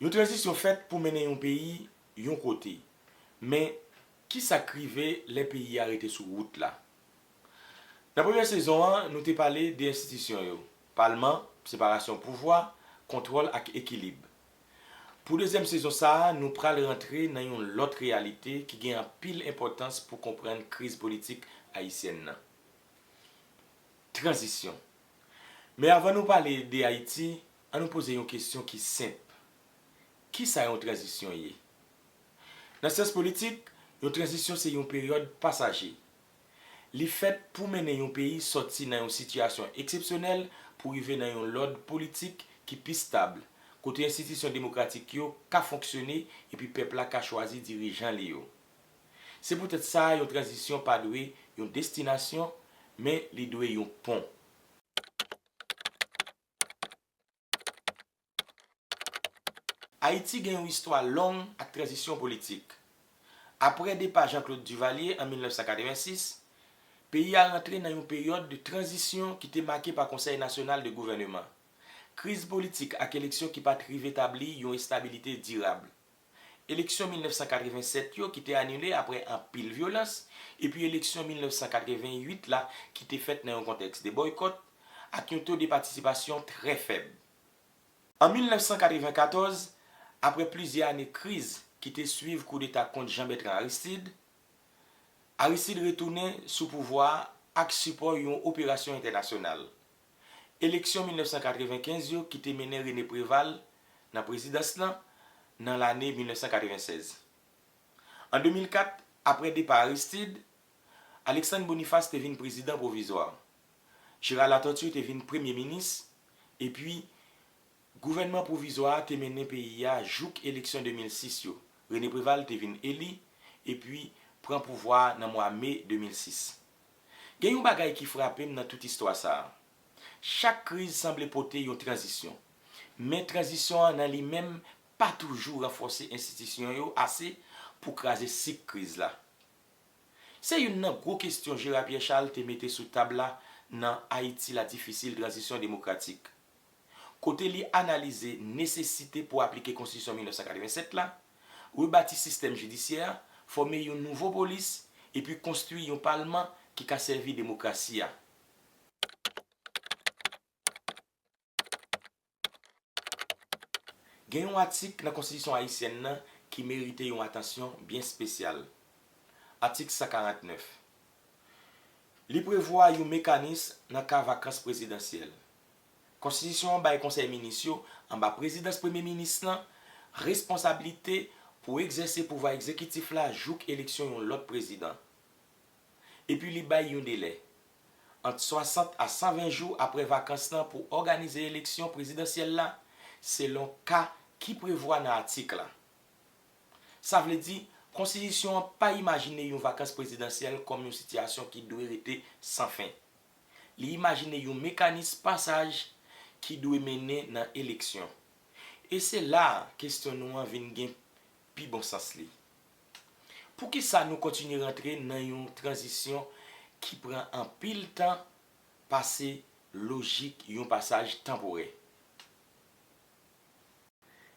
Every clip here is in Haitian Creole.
Yon tranzisyon fèt pou mennen yon peyi yon kote. Men, ki sa k rive lè peyi a rete sou wout la? Nan premyè sezon an, nou te pale de enstitisyon yo, palman, separasyon pouvwa, kontwòl ak ekilib. Pou dezyèm sezon sa a, nou pral rantre nan yon lòt reyalite ki gen anpil enpòtans pou konprann kriz politik ayisyèn nan, tranzisyon. Men avan nou pale de Ayiti, An nou poze yon kesyon ki senp, Kisa yon tranzisyon ye? Nan syans politik, yon tranzisyon se yon peryòd pasaje. Li fèt pou mennen yon peyi sòti nan yon sitiyasyon eksepsyonèl pou rive nan yon lòd politik ki pi stab, kote enstitisyon demokratik yo ka fonksyone epi pèp la ka chwazi dirijan li yo. Se poutèt sa yon tranzisyon pa dwe yon destinasyon, men li dwe yon pon. Ayiti gen yon istwa long ak tranzisyon politik. Aprè depa Jean Claude Duvalier an 1986, peyi a rantre nan yon peryòd de tranzisyon ki te make pa Konsèy Nasyonal de Gouvèneman, kriz politik ak eleksyon ki pa t rive tabli yon estabilite dirab. eleksyon 1987 yo ki te anile apre anpil vyolans, epi eleksyon 1988 la ki te fèt nan yon kontèks de bòykòt ak yon to de patisipasyon trè fèb. An 1994, apre plizyè ane kriz ki te swiv koudeta kont Jean Bertrand Aristide, Aristide retounen sou pouvwa a ak sipò yon operasyon entènasyonal, Eleksyon 1995 yo ki te mennen René Préval nan prezidans lan nan lane 1996. An 2004, apre depa Aristide, Alexandre Boniface te vin prezidan pwovizwa. Gérard Latortue te vin premye minis, epi gouvènman pwovizwa a te mennen peyi a jouk eleksyon 2006 yo. René Préval te vin eli epi pran pouvwa a nan mwa me 2006. Gen yon bagay ki frape m nan tout istwa sa a. Chak kriz sanble pote yon tranzisyon. Men tranzisyon an nan li menm pa toujou ranfòse enstitisyon yo ase pou kraze sik kriz la. Se youn nan gwo kestyon Gérard Pierre Charles te mete sou tab la nan Ayiti la difisil, Tranzisyon demokratik. kote li analize nesesite pou aplike Konstitisyon 1987 la, rebati sistèm jidisyè a, fòme yon nouvo polis, epi konstwi yon palman ki ka sèvi demokrasi a. Gen yon atik nan Konstitisyon ayisyèn nan ki merite yon atansyon byen espesyal, Atik 149. Li prevwa yon mekanis nan ka vakans prezidansyèl, Konstitisyon an bay Konsèy Minis yo, anba prezidans Premye Minis lan, responsablite pou egzèse pouvwa egzekitif la jouk eleksyon yon lòt prezidan. Epi li bay yon delè, ant 60 a 120 jou apre vakans lan pou òganize eleksyon prezidansyèl la, selon ka ki prevwa nan atik la. Sa vle di, Konstitisyon an pa imajine yon vakans prezidansyèl kòm yon sitiyasyon ki dwe rete san fen. Li imajine yon mekanis pasaj ki dwe mennen nan eleksyon. E se la a kesyon nou an vin gen pi bon sans li. Poukisa nou kontinye rantre nan yon tranzisyon ki pran anpil tan pase lojik yon pasaj tanporè?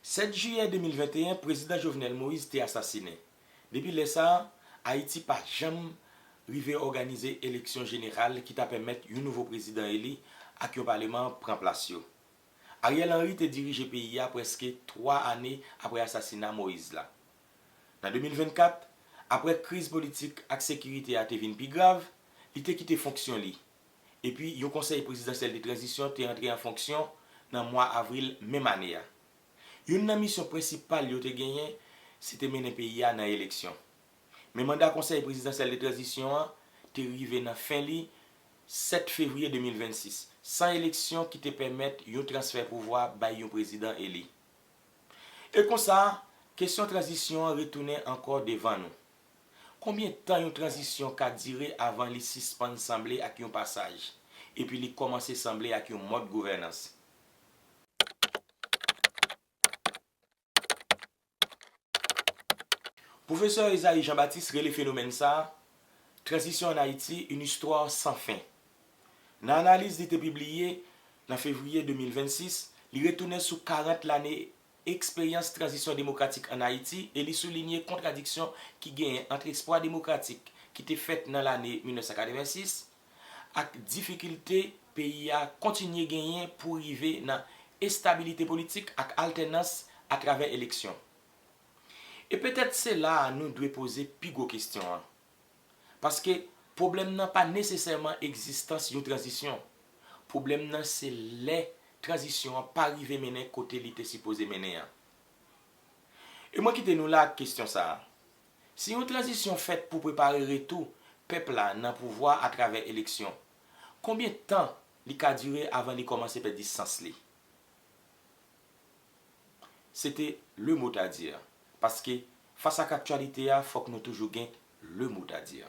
7 jiyè 2021 prezidan Jovenel Moïse te asasinen. Depi lè sa a, Ayiti pa janm rive òganize eleksyon jeneral ki ta pèmèt yon nouvo prezidan eli ak yon paleman pran plas yo. Ariel Henry te dirije peyi a prèske 3 ane apre asasina Moïse la. Nan 2024, apre kriz politik ak sekirite a te vin pi grav, li te kite fonksyon li. epi yon konsèy prezidansyèl de tranzisyon te antre an fonksyon nan mwa avril menm ane a. Youn nan misyon prensipal yo te genyen se te mennen peyi a nan eleksyon. Men manda konsèy prezidansyèl de tranzisyon an te rive nan fen li 7 fevriye 2026, san eleksyon ki te pèmèt yon transfè pouvwa bay yon prezidan eli. E konsa, kesyon tranzisyon an retounen ankò devan nou. Konbyen tan yon tranzisyon ka dire avan li sispann sanble ak yon pasaj, epi li kòmanse sanble ak yon mòd gouvènans? Pwofesè Esaïe Jean-Baptiste rele fenomèn sa a, Transition en Haïti, une histoire sans fin. Nan analiz li te pibliye nan fevriye 2026, li retounen sou 40 lane eksperyans tranzisyon demokratik ann Ayiti e li soulinye kontradiksyon ki genyen ant espwa demokratik ki te fèt nan lane 1986 ak difikilte peyi a kontinye genyen pou rive nan estabilite politik ak altènans atravè eleksyon. E petèt se la a nou dwe poze pi gwo kesyon an. Paske pwoblèm nan pa nesesèman egzistans yon tranzisyon. Pwoblèm nan se lè tranzisyon an pa rive mennen kote li te sipoze mennen an. E mwen kite nou la ak kesyon sa a. Si yon tranzisyon fèt pou prepare retou pèp la nan pouvwa atravè eleksyon, konbyen tan li ka dire avan li kòmanse pèdi sans li? Se te le mot à dire. Paske fas ak aktyalite a fòk nou toujou gen le mot à dire.